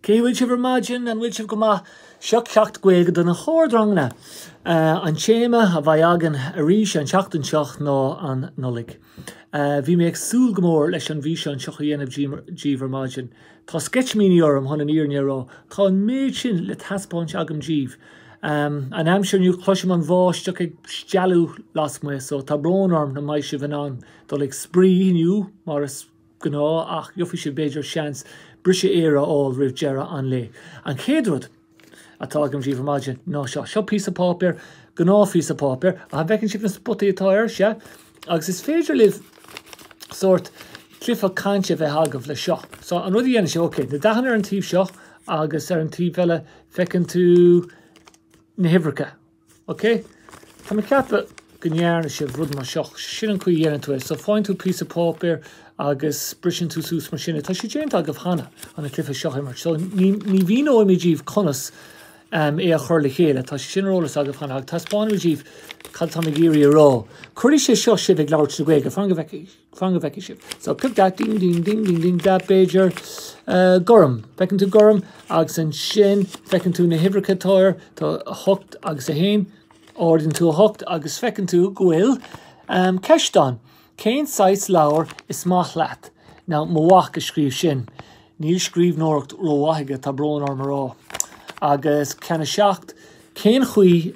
Cén chaoi a bhfuil sibh ar maidin? An bhfuil sibh go maith? Seo ceacht Gaeilge do na hardranganna. An téama a bheidh againn arís an tseachtain seo ná an Nollaig. Bhí mé ag súil go mór leis an bhfíseán seo a dhéanamh díbh ar maidin. Tá sceitimíní orm chun an fhírinne a rá. Tá an méid sin le taispeáint agam díbh. An aimsir inniu cloisim an bháisteach ag stealladh lasmuigh so tá brón orm nach mbeidh sibh in ann dul ag spraoi inniu mar is ghnáth ach gheobhaidh sibh b'fhéidir seans briseadh aeir a fháil roimh deireadh an lae. An chéad rud atá agam díbh ar maidin ná seo. Seo píosa páipéir, gnáthphíosa páipéir ach an bhfeiceann sibh na spotaí atá air? Sea. Agus is féidir libh sórt cluiche cainte a bheith agaibh le seo. So an rud a dhéanann sibh, ok, na dathanna ar an taobh seo agus ar an taobh eile feiceann tú na huimhreacha. OK, tá mé ag ceapadh go ndearna sibh rud mar seo. Sin an chaoi a dhéanann tú é. So faigheann tú píosa páipéir agus briseann tú suas mar sin é. Tá sé déanta agaibh cheana chun an cluiche seo a imirt. So ní, ní mhíneoimid díbh conas um, é a chur le chéile. Tá sé sin ar eolas agaibh cheana agus taispeánfaimid díbh cad atá mé ag iarraidh a rá. Cuirfidh sé seo sibh ag labhairt na Gaeilge. Fan go bhfeicfidh. Fan go bhfeicfidh sibh. So pick that, ding ding ding ding ding that b'fhéidir gorm. Feiceann tú gorm agus ansin feiceann tú na huimhreacha táir tá 8 agus 1 ardaíonn tú 8 agus feiceann tú go bhfuil um, ceist ann. Cén saghas leabhar is maith leat? Now mo mhac a scríobh sin. Níl scríbhneoireacht rómhaith aige tá brón orm a rá. Agus ceann a seacht cén chaoi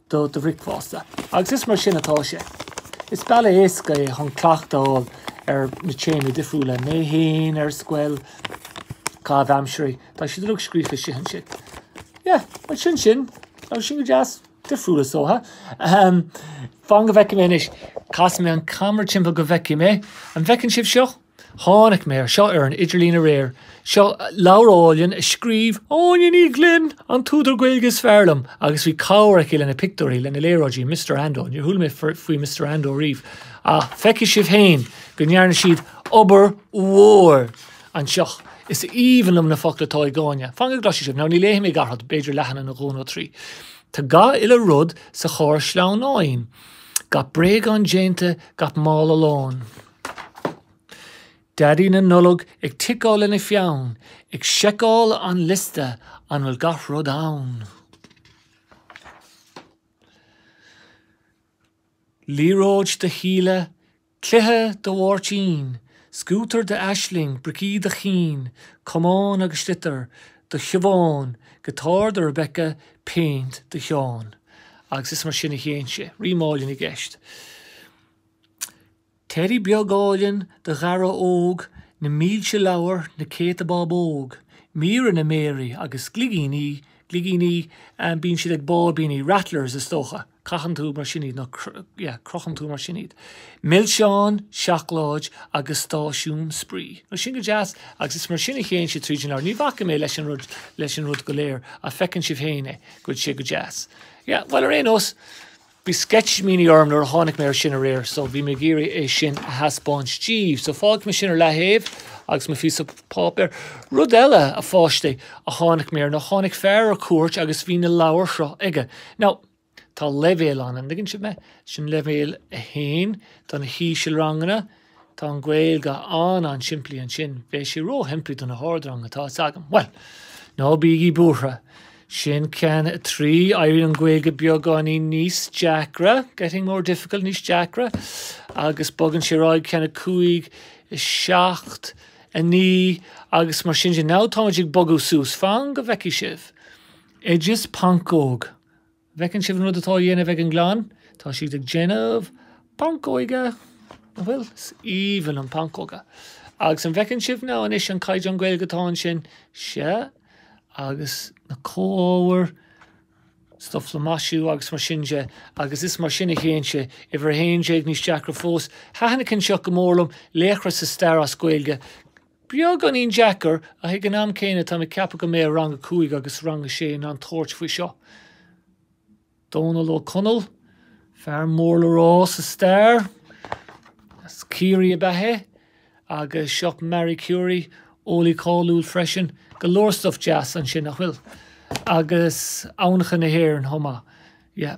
do do bhricfeasta. Agus is mar sin atá sé. Is bealach éasca é chun cleachtáil ar na téamaí difriúla, mé féin, ar scoil, caithimh aimsire, tá siad uilig scríofa istigh ansin. Yeah, sin sin, agus sin go deas, difriúil is dócha. Fan go bhfeicfidh mé anois, casfaidh mé an ceamara timpeall go bhfeicfidh mé. An bhfeiceann sibh seo? Tháinig mé ar seo ar an idirlíon aréir. Seo leabhar álainn a scríobh Áine Ní Ghlinn, an t-údar Gaeilge is fearr liom, agus bhí cabhair aici leis na pictiúirí, leis na léaráidí, Mister Ando, níor chuala mé faoi Mister Ando riamh, ach feicfidh sibh féin go ndearna siad obair mhór anseo. Is aoibhinn liom na focla atá ag Áine. Fan go gcloisfidh sibh. Now, ní léifidh mé gach rud, b'fhéidir leathanach nó dhó nó trí. Tá gach uile rud sa charr sleamhnáin. Gach bréagán déanta, gach mála lán. Daidí na Nollag ag ticeáil lena pheann, ag seiceáil an liosta an bhfuil gach rud ann. Liathróid do Shíle, cluiche do Mháirtín, scútar d'Aisling, bricí do Chinn, camán agus sliotar do Shiobhán, giotár do Rebecca, péint do Sheán. Agus is mar sin a théann sé. Rímeáil i gceist. Teddy beag áilinn do Dhara óg, na mílte leabhar, na céadta bábóg, míreanna mearaí agus gligíní, gligíní, bíonn siad ag báibíní, rattlers is dócha, croitheann tú mar sin iad nó yeah croitheann tú mar sin iad, milseáin, seacláid agus stáisiún spraoi. Now sin go deas agus is mar sin a théann sé tríd an leabhar. Ní bhacfaidh mé leis an rud go léir ach feiceann sibh féin é, go bhfuil sé go deas. Yeah, bhuel ar aon nós, Bhí sceitimíní orm nuair a tháinig mé ar sin aréir so bhí mé ag iarraidh é sin a thaispeáint díbh. So fágfaidh mé sin ar leathaobh agus mo phíosa páipéir. Rud eile, a pháistí, a tháinig mé ar nó tháinig fear ar cuairt agus bhí na leabhair seo aige. Now, tá leibhéal ann, an dtuigeann sibh mé? Sin leibhéal a haon do na hísealranganna. Tá an Ghaeilge an-an-simplí ansin. Bheadh sé ró-shimplí do na hardrang atá s'agam. Bhuel! Ná bígí buartha. Sin ceann a 3. Éiríonn an Ghaeilge beagáinín níos deacra, getting more difficult, níos deacra, agus bogann sé ar aghaidh, ceann a 5, 7, 9, agus mar sin de. Now táimid ag bogadh suas. Fan go bhfeicfidh sibh. Oideas Pancóg. An bhfeiceann sibh an rud atá á dhéanamh ag an gclann? Tá siad ag déanamh pancóige! Nach bhfuil? Is aoibhinn liom pancóga. Agus an bhfeiceann sibh now anois an caighdeán Gaeilge atá ansin? Sea, agus na comhábhair, stuff le maisiú agus mar sin de, agus is mar sin a théann sé. Uimhir 11, níos deacra fós. Thaitin an ceann seo go mór liom, laochra sa stair as Gaeilge. Beagáinín deacair, ach ag an am céanna táim ag ceapadh go mbeidh rang a cúig agus rang a sé in ann tabhairt faoi seo. Dónal Ó Conaill, fear mór le rá sa stair, as Ciarraí ab ea é, agus seo Marie Curie, eolaí cáiliúil freisin. Go leor stuff deas ansin, nach bhfuil? Agus Aibhneacha na hÉireann chomh maith. Yeah.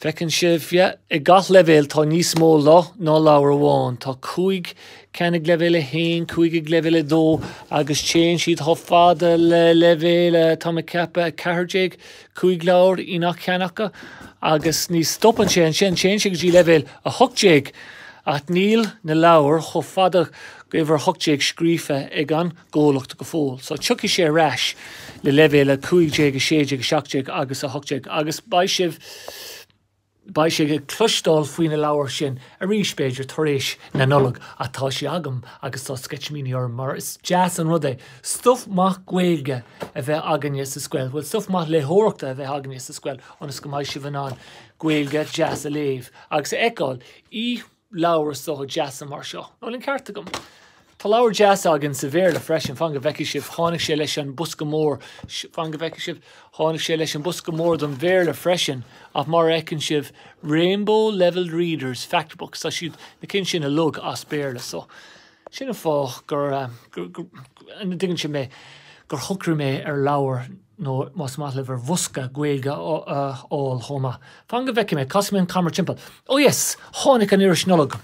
Feiceann sibh, yeah, i ngach leibhéal tá níos mó ná leabhar amháin. Tá cúig ceann ag leibhéal 1, cúig ag leibhéal 2 agus téann siad chomh fada le leibhéal, eh, tá mé ag ceapadh 14, cúig leabhar i ngach ceann acu agus ní stopann sé ansin, téann sé go dtí leibhéal 18 ach níl na leabhair chomh fada go uimhir 18 scríofa ag an gcomhlacht go fóill. So tiocfaidh sé ar ais le leibhéal 15, 16, 17 agus 18 agus beidh sibh, beidh sibh ag cloisteáil faoi na leabhair sin arís, b'fhéidir, tar éis na Nollag ach tá sé agam agus tá sceitimíní orm mar is deas an rud é stuif maith Gaeilge a bheith againne sa scoil, bhuel stuif maith léitheoireachta a bheith againne sa scoil ionas go mbeidh sibh in ann Gaeilge deas a léamh agus a fheiceáil i leabhair, is dócha, deasa mar seo. An bhfuil an ceart agam? Tá leabhair deasa againn sa Bhéarla freisin, fan go bhfeicfidh sibh, tháinig sé leis an bosca mór, fan go bhfeicfidh sibh, tháinig sé leis an bosca mór don Bhéarla freisin, ach mar a fheiceann sibh, Rainbow Levelled Readers, Fact Books, tá siad na cinn sin uilig as Béarla, so sin an fáth gur, an dtuigeann sibh mé, gur shocraigh mé ar leabhar. nó más maith libh ar bhosca Gaeilge a fháil chomh maith. Fan go bhfeicfidh mé, casfaidh mé an camera timpeall. Oh yes! Tháinig an iris Nollag.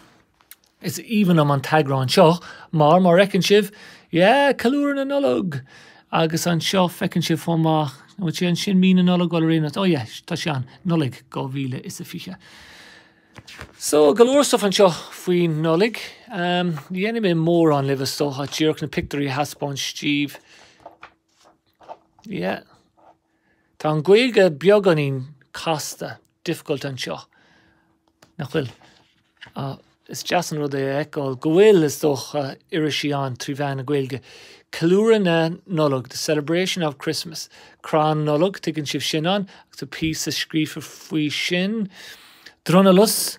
Is aoibhinn liom an t-eagrán seo mar, mar fheiceann sibh, yeah, ceiliúradh na Nollag! Agus anseo feiceann sibh chomh maith, an bhfuil sé ansin, Mí na Nollag? Bhuel ar aon nós, oh yeah, tá sé ann, Nollaig 2020. So, go leor stuff anseo faoin Nollaig. Um, Ní dhéanfaidh mé mórán libh is dócha, díreach na pictiúirí a thaispeáint daoibh. Yeah. Tá an Gaeilge beagáinín casta, difficult anseo. Nach bhfuil? Ah, is deas an rud é a fheiceáil go bhfuil is dócha irisí ann trí mheán na Gaeilge. Ceiliúradh na Nollag, the celebration of Christmas. Crann Nollag, tuigeann sibh sin ann, agus píosa scríofa faoi sin. Drualus,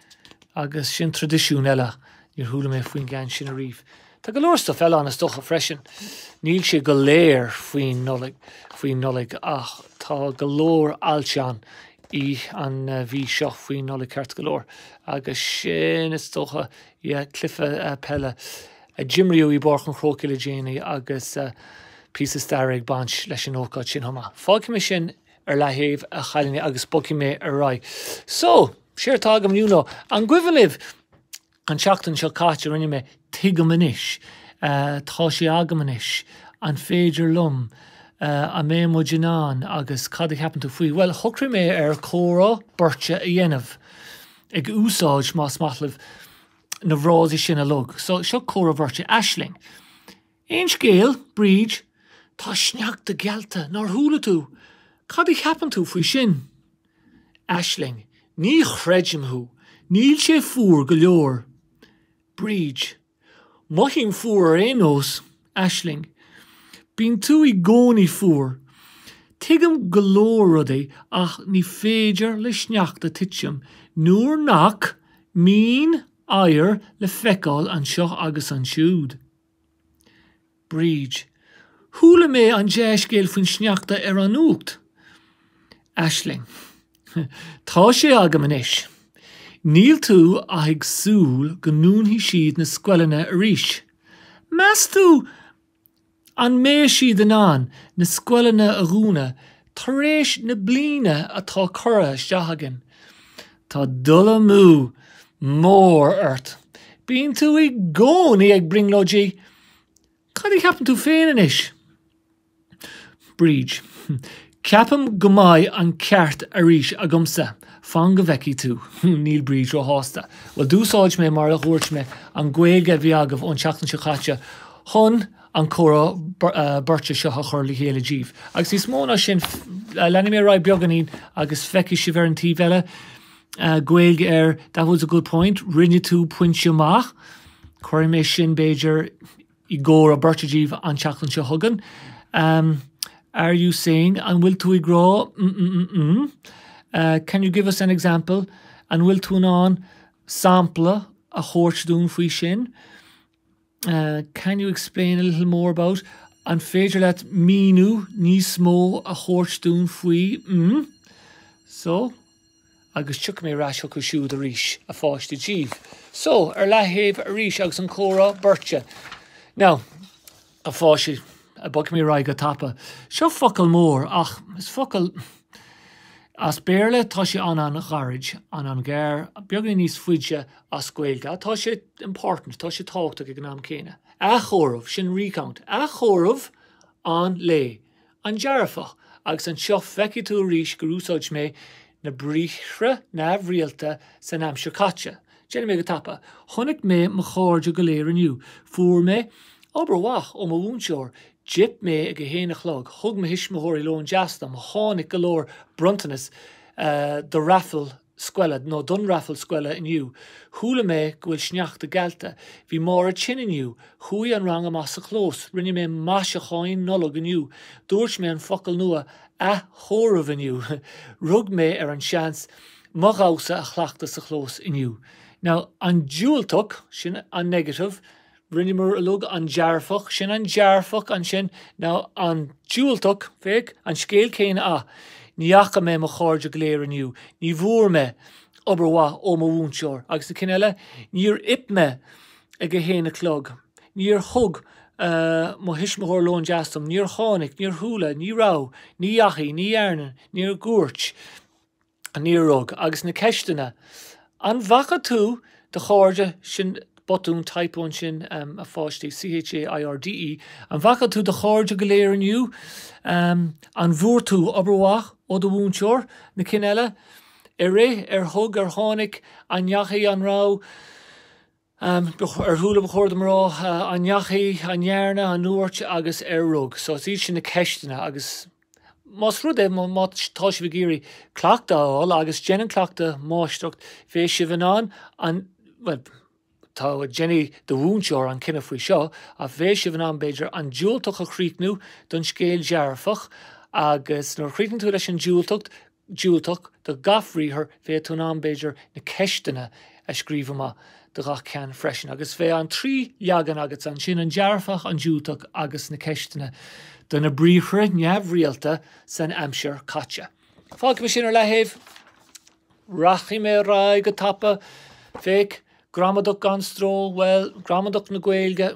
Agus sin traidisiún eile. Níor chuala mé faoin gceann sin ariamh. Tá go leor stuif eile ann is dócha freisin. Níl sé go léir faoin Nollaig, faoin Nollaig ach tá go leor ailteanna an mhí seo faoin Nollaig ceart go leor. Agus sin is dócha, yeah, cluife peile a d'imríodh i bPáirc an Chrócaigh le déanaí agus píosa staire ag baint leis an ócáid sin chomh maith. Fágfaidh mé sin ar leathaobh a chailíní agus bogfaidh mé ar aghaidh. So, séard atá agam inniu ná an gcuimhin libh an tseachtain seo caite rinne mé Tuigim anois, tá sé agam anois, an féidir liom, an mbeidh muid in ann agus cad a cheapann tú faoi? Bhuel, shocraigh mé ar comhrá beirte a dhéanamh, ag úsáid, más maith libh, na bhfrásaí sin uilig. So, seo comhrá bheirte, Aisling, Aon scéal, Bríd? Tá sneachta geallta, nár chuala tú? Cad a cheapann tú faoi sin? Aisling, Ní chreidim thú! Níl sé fuar go leor. Bríd, Mothaím fuar ar aon nós. Aisling, Bíonn tú i gcónaí fuar. Tuigim go leor rudaí ach ní féidir le sneachta titim nuair nach mbíonn oighear le feiceáil anseo agus ansiúd. Bríd, Chuala mé an dea-scéal faoin sneachta ar an Nuacht. Aisling, Tá sé agam anois. Níl tú ach ag súil go ndúnfaidh siad na scoileanna arís. Meas tú an mbeidh siad in ann na scoileanna a dhúnadh Tar éis na bliana atá curtha isteach againn, tá dul amú mór ort. Bíonn tú i gcónaí ag brionglóidí, Cad a cheapann tú féin anois? Bríd, Ceapaim go mbeidh an ceart arís agamsa. Fan go bhfeicfidh tú. Níl Bríd róshásta. Bhuel, d'úsáid mé, mar a dúirt mé, an Ghaeilge a bhí agaibh ón tseachtain seo caite chun an comhrá beirte seo a chur le chéile daoibh. Agus níos mó ná sin, leanfaidh mé ar aghaidh beagáinín agus feicfidh sibh ar an taobh eile. Gaeilge ar That was a good point, rinne tú pointe maith. Cuirfidh mé sin, b'fhéidir, i gcomhrá beirte daoibh an tseachtain seo chugainn. Are you saying, an bhfuil tú ag rá, mm-mm-mm-mm? Can you give us an example, an bhfuil tú in ann sampla a thabhairt dúinn faoi sin? Can you explain a little more about? An féidir leat míniú níos mó a thabhairt dúinn faoi? mm So Agus tiocfaidh mé ar ais chucu siúd arís, a pháistí, daoibh. So, ar leaththaobh arís agus an comhrá beirte. Now, a pháistí, bogfaidh mé ar aghaidh go tapa. Seo focal mór ach is focal As Béarla tá sé an-an-ghairid, an-an-ghearr, beagáinín níos faide as Gaeilge. Tá sé important, tá sé tábhachtach ag an am céanna. Athchomhaireamh, sin recount. Athchomhaireamh an lae. An dearfach. Agus anseo feicfidh tú arís gur úsáid mé na briathra neamhrialta san aimsir chaite. Déanfaidh mé go tapa. Chonaic mé mo chairde go léir inniu. Fuair mé obair mhaith ó mo mhúinteoir. D'ith mé ag a haon a chlog. Thug mo thuismitheoirí lón deas dom. Tháinig go leor bronntanas do raffle na. scoile, nó don raffle scoile inniu. Chuala mé go bhfuil sneachta geallta. Bhí Máire tinn inniu. Chuaigh an rang amach sa chlós. Rinne mé maiseacháín Nollag inniu. Dúirt mé an focal nua 'athchomhaireamh' inniu. Rug mé ar an seans mo dhamhsa a chleachtadh sa chlós inniu. Now, an diúltach, sin an negative. Rinneamar uilig an dearfach, sin an dearfach ansin, now an diúltach, féach, an scéal céanna a. Ní fhaca mé mo chairde go léir inniu, ní bhfuair mé obair mhaith ó mo mhúinteoir, agus na cinn eile, níor ith mé ag a haon a chlog, níor thug mo thuismitheoir lón deas dom, níor tháinig, níor chuala, ní raibh, ní dheachaigh, ní dhearna, níor dúirt. Níor rug agus na ceisteanna. An bhfaca tú do chairde, sin botún, typo ansin a pháistí, C-h-a-i-r-d-e, an bhfaca tú do chairde go léir inniu? An bhfuair tú obair mhaith ó do mhúinteoir? Na cinn eile. Ar ith, ar thug, ar tháinig, an ndeachaigh, an raibh. Ar chuala ba chóir dom a rá, an ndeachaigh, an ndearna, an ndúirt agus ar rug. So is iad sin na ceisteanna agus más rud é, má tá sibh ag iarraidh cleachtadh a fháil agus déanann cleachtadh máistreacht, bheadh sibh in ann an, bhuel, tá, déanfaidh do mhúinteoir an cinneadh faoi seo, ach bheadh sibh in ann, b'fhéidir, an diúltach a chríochnú don scéal dearfach agus nuair a chríochnaíonn tú leis an diúltach, diúltach do gach bhriathar, bheadh tú in ann, b'fhéidir, na ceisteanna a scríobh amach do gach ceann freisin, agus bheadh an trí leagan agatsa ansin, an dearfach, an diúltach agus na ceisteanna do na briathra neamhrialta san aimsir caite. Fágfaidh mé sin ar leataobh. Rachaidh mé ar aghaidh go tapa. Féach, gramadach gan stró, bhuel, gramadach na Gaeilge.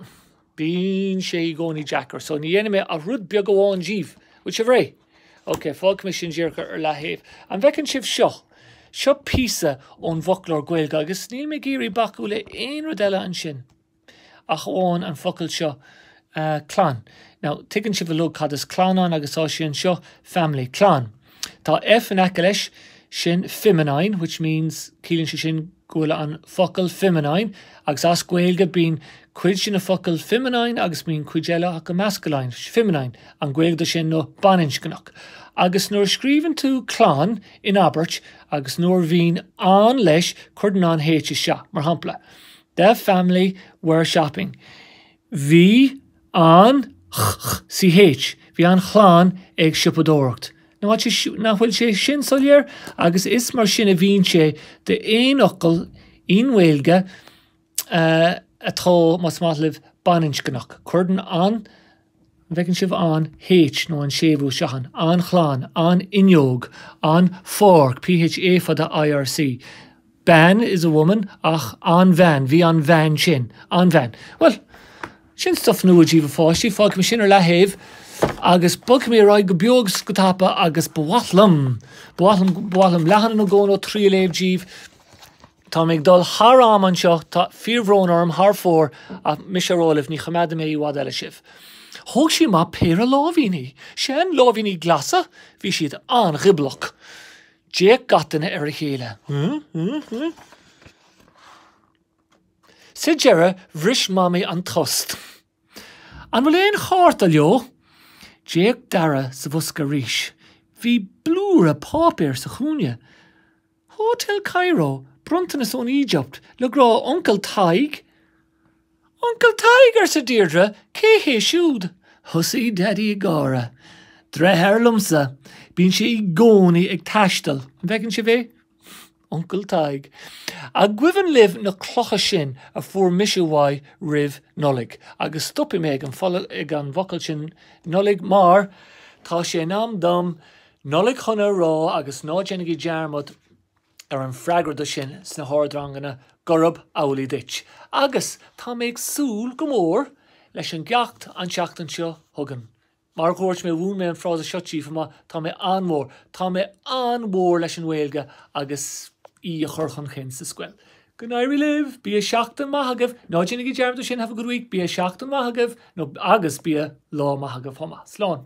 Bíonn sé i gcónaí deacair, so ní dhéanfaidh mé ach rud beag amháin díbh. Bhfuil sibh réidh? Ok, fágfaidh mé sin díreach ar leataobh. An bhfeiceann sibh seo? Seo píosa ón bhfoclóir Gaeilge agus níl mé ag iarraidh bacadh le aon rud eile ansin ach amháin an focal seo clann. Now, tuigeann sibh uilig cad is clann ann agus tá sé anseo, family, clann. Tá F in aice leis, sin feminine, which means, ciallaíonn sé sin go bhfuil an focal feminine, agus as Gaeilge bíonn cuid de na focail feminine agus bíonn cuid eile acu masculine, feminine an Ghaeilge dó sin nó baininscneach. Agus nuair a scríobhann tú clann in abairt agus nuair a bhíonn an leis cuirtear an H isteach, mar shampla, The family were shopping, bhí An ch-ch-ch-ch, bhí an chlann ag siopadóireacht. Nach bhfuil sé, nach bhfuil sé sin soiléir? Agus is mar sin a bhíonn sé d'aon fhocal i nGaeilge atá, más maith libh, baininscneach. Cuirtear an, an bhfeiceann sibh an H nó an séimhiú seo an, an chlann, an fhuinneog, an pháirc, P H A fada I.R.C. Bean is a woman, ach an bhean, bhí an bhean sin, an bhean. Bhuel, sin stuif nua díbh a pháistí, fágfaidh mé sin ar leataobh agus bogfaidh mé ar aghaidh go beo agus go tapa agus ba mhaith liom, ba mhaith liom, ba mhaith liom leathanach nó dhó nó trí a léamh díbh. Tá mé ag dul thar am anseo, tá fíorbhrón orm thar fóir, ach mise á rá libh, ní choimeádfaidh mé i bhfad eile sibh. Thóg sí amach péire lámhainní, seanlámhainní glasa, bhí siad an-ghioblach. D'fhéach gach duine ar a chéile. Sa deireadh bhris Mamaí an tost. An bhfuil aon chárta leo? D'fhéach Dara sa bhosca arís. Bhí blúire páipéir sa chúinne. Hotel Cairo, bronntanas ón Éigipt, le grá, Uncail Tadhg. Uncle Tadhg, arsa Deirdre, cé hé siúd? Thosaigh Daidí ag gáire. Deartháir liomsa. Bíonn sé i gcónaí ag taisteal. An bhfeiceann sibh é? Uncle Tadhg. An gcuimhin libh na clocha sin a fuair mise uaidh roimh Nollaig? Agus stopfaidh mé ag an focal, ag an bhfocal sin Nollaig mar tá sé in am dom Nollaig shona a rá agus ná déanaigí dearmad, ar an freagra do sin sna hardranganna gurab amhlaidh duit agus tá mé ag súil go mór leis an gceacht an tseachtain seo chugainn. Mar a dhúirt mé mhúin mé an frása seo daoibh chomh maith tá mé an-mhór, tá mé an-mhór leis an nGaeilge agus í a chur chun chinn sa scoil. Go n-éirí libh! Bíodh seachtain maith agaibh! Ná déanaigí dearmad do sin, have a good week! Bíodh seachtain maith agaibh nó agus bíodh lá maith agaibh chomh maith. Slán!